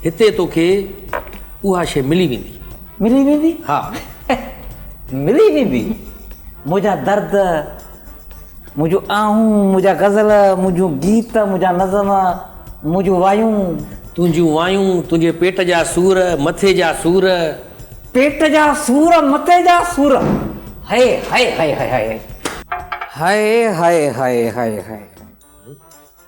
هتي توکي اها شيء ملي ويندي. ملي ويندي؟ ها. ملي ويندي؟ منهنجا درد، منهنجون آهون، منهنجا غزل، منهنجون گيت، منهنجا نظم، منهنجون وايون. تنهنجون وايون، تنهنجي پيٽ جا سور، مٿي جا سور. پيٽ جا سور، مٿي جا سور. هئي هئي هئي هئي هئي هئي. هئي هئي هئي هئي هئي هئي.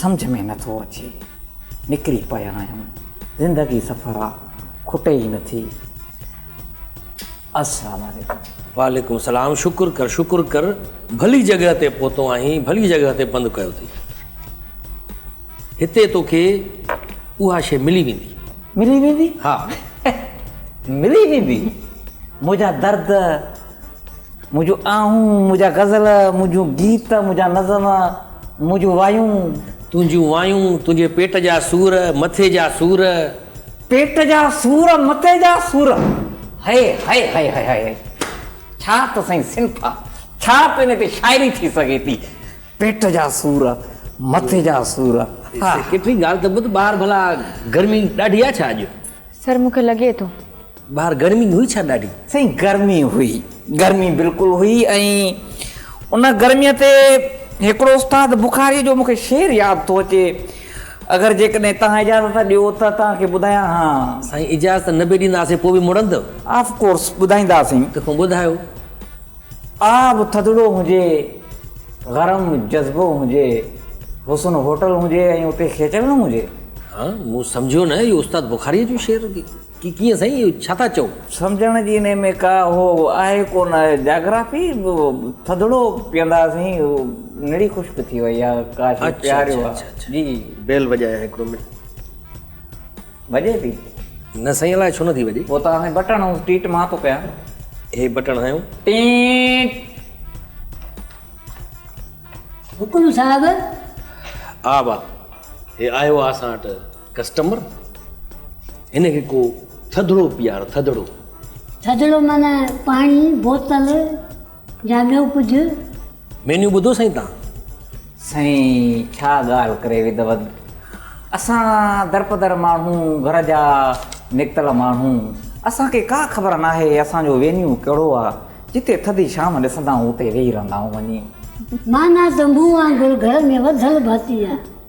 سمجهه ۾ نه ٿو اچي نڪري پيا آهيون زندگي سفر آ کٽي ئي نٿي السلام عليڪم. وعليڪم السلام شڪر ڪر شڪر ڪر ڀلي جڳهه تي پهتو آهين ڀلي جڳهه تي پنڌ ڪيو اٿئي هتي توکي اها شيء ملي ويندي. ملي ويندي؟ ها. ملي ويندي منهنجا درد منهنجون آهون، منهنجا غزل، منهنجون گيت، منهنجا نظم، منهنجون وايون. تنهنجون وايون، تنهنجي پيٽ جا سور، مٿي جا سور. پيٽ جا سور، مٿي جا سور. هئي هئي هئي هئي هئي هئي. ڇا ته سائين صنف آ. ڇا ته ان تي شاعري ٿي سگهي ٿي. پيٽ جا سور، مٿي جا سور. سيڪريٽري ڳالهه ته ٻڌ ٻاهر ڀلا گرمي ڏاڍي آ ڇا اڄ. سر مون کي لڳي ٿو. ٻاهر گرمي هئي ڇا ڏاڍي؟ سائين گرمي هئي گرمي بلڪل هئي ۽ ان گرميء تي هڪڙو استاد بخاريء جو مون کي شعر ياد ٿو اچي اگر جيڪڏهن توهان اجازت ڏيو ته توهان کي ٻڌايان ها. سائين اجازت نه به ڏينداسين پوء به مڙندؤ؟ آف ڪورس ٻڌائينداسين. تکون ٻڌايو. آب ٿڌڙو هجي، گرم جذبو هجي، حسن هوٽل هجي ۽ اتي کيچڙ نه هجي. ها مون سمجهيو نه اهو استاد بخاريء جو شعر هجي. ڪي ڪيئن سائين اهو ڇا ٿا چئو. سمجهڻ جي انهي ۾ ڪا هو آهي ڪونه آهي جاگرافي ٿڌڙو پيئندا سائين نڙي خشڪ ٿي وئي آ ڪاش هي پياريو ها جي. بيل وڄايا هڪڙو منٽ. وڄي ٿي؟ نه سائين الائي ڇو نٿي وڄي. پوء تان هي بٽڻ هنيو ٽيٽ مان ٿو ڪيان. هي بٽڻ هنيو. ٽيٽ. حڪم صاحب. آ با هي آيو آ اسان وٽ. ڪسٽمر، هن کي ڪو ٿڌڙو پيار، ٿڌڙو. ٿڌڙو معنيٰ پاڻي، بوتل يا ٻيو ڪجهه. مينيو ٻڌو سائين تان. سائين ڇا ڳالهه ڪري وڌوت اسان درپدر ماڻهو گهر جا نڪتل ماڻهو اسان کي ڪا خبر ناهي اسان جو وينيو ڪهڙو آ جتي ٿڌي شام ڏسندا آهون اتي ويهي رهندا آهون وڃي. معنيٰ تنبوء وانگر گهر ۾ وڌل ڀاتي آ.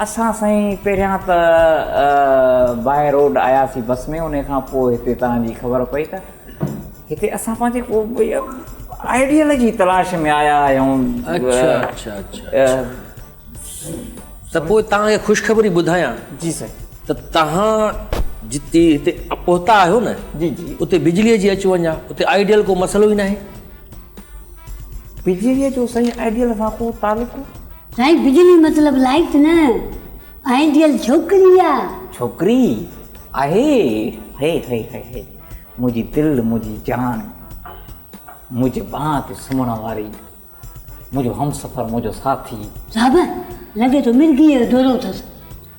اسان سائين پهريان ته باهه روڊ آياسين بس ۾ ان کان پوء هتي تان جي خبر پئي ته هتي اسان پنهنجي ڪو آئيڊيل جي تلاش ۾ آيا آهيون اڇا اڇا اڇا ته پوء تان کي خوشخبري ٻڌايان جي سائين ته تان جتي هتي پهتا آهيو نه جي جي اتي بجلي جي اچ وڃ آهي اتي آئيڊيل ڪو مسئلو ئي ناهي. بجليء جو سائين آئيڊيل سان ڪو تعلق؟ سائين بجلي مطلب لائيٽ نه آئيڊيل ڇوڪري آ. ڇوڪري آهي هي هي هي هي منهنجي دل منهنجي جان منهنجي ٻانهن تي سمهڻ واري منهنجو همسفر منهنجو ساٿي. صاحب لڳي ٿو مرگيء جو دورو اٿس.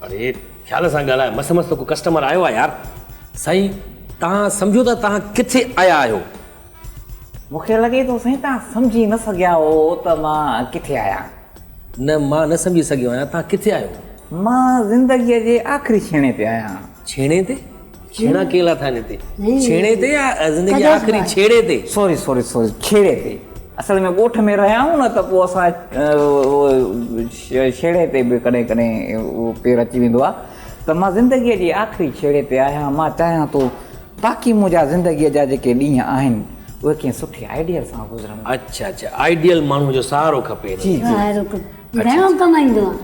اڙي خيال سان ڳالهاء مس مس ته ڪو ڪسٽمر آيو آ يار. سائين توهان سمجهو ته توهان ڪٿي آيا آهيو. مون کي لڳي ٿو سائين توهان سمجهي نه سگهيا هو ته مان ڪٿي آهيان. نه مان نه سمجهي سگهيو آهيان توهان ڪٿي آهيو. مان زندگيء جي آخري ڇيڻي تي آهيان. ڇيڻي تي؟ ڇيڻا ڪئين لاٿا آهن هتي؟ ڇيڻي تي يا زندگيء جي آخري ڇيڙي تي؟ سوري سوري سوري ڇيڙي تي اصل ۾ ڳوٺ ۾ رهيا آهيون نه ته پوء اسان ڇيڙي تي به ڪڏهن ڪڏهن پير اچي ويندو آهي ته مان زندگيء جي آخري ڇيڙي تي آهيان مان چاهيان ٿو باقي منهنجا زندگيء جا جيڪي ڏينهن آهن اهي ڪنهن سٺي آئيڊيل سان گذرن. اچ اچ آئيڊيل ماڻهو جو سهارو کپي هن لاء. سهارو کپي گهڻو ڪمائيندو آهي.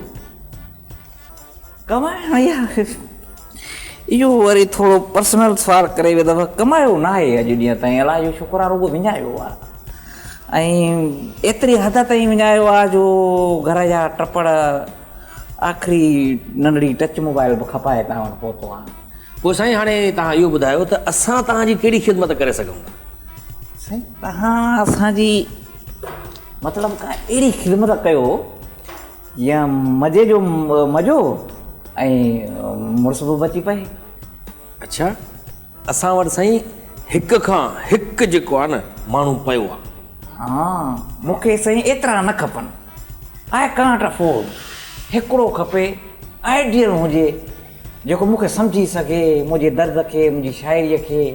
ڪمائڻ يا اهو وري ٿورو پرسنل سوال ڪري ويهه دفعا ڪمايو ناهي اڄ ڏينهن تائين الله جو شڪر آهي رڳو وڃايو آهي ۽ ايتري حد تائين وڃايو آهي جو گهر جا ٽپڙ آخري ننڍڙي ٽچ موبائل به کپائي تان وٽ پهتو آهيان. پوء سائين هاڻي توهان اهو ٻڌايو ته اسان توهان جي ڪهڙي خدمت ڪري سگهون ٿا؟ سائين توهان اسان جي مطلب ڪا اهڙي خدمت ڪيو جيئن مزي جو مزو ۽ مڙس به بچي پئي. اڇا اسان وٽ سائين هڪ کان هڪ جيڪو آهي نه ماڻهو پيو آهي. ها مون کي سائين ايترا نه کپن آء ڪانٽ افورڊ هڪڙو کپي آئيڊيل هجي. جيڪو مون کي سمجهي سگهي، منهنجي درد کي، منهنجي شاعريء کي.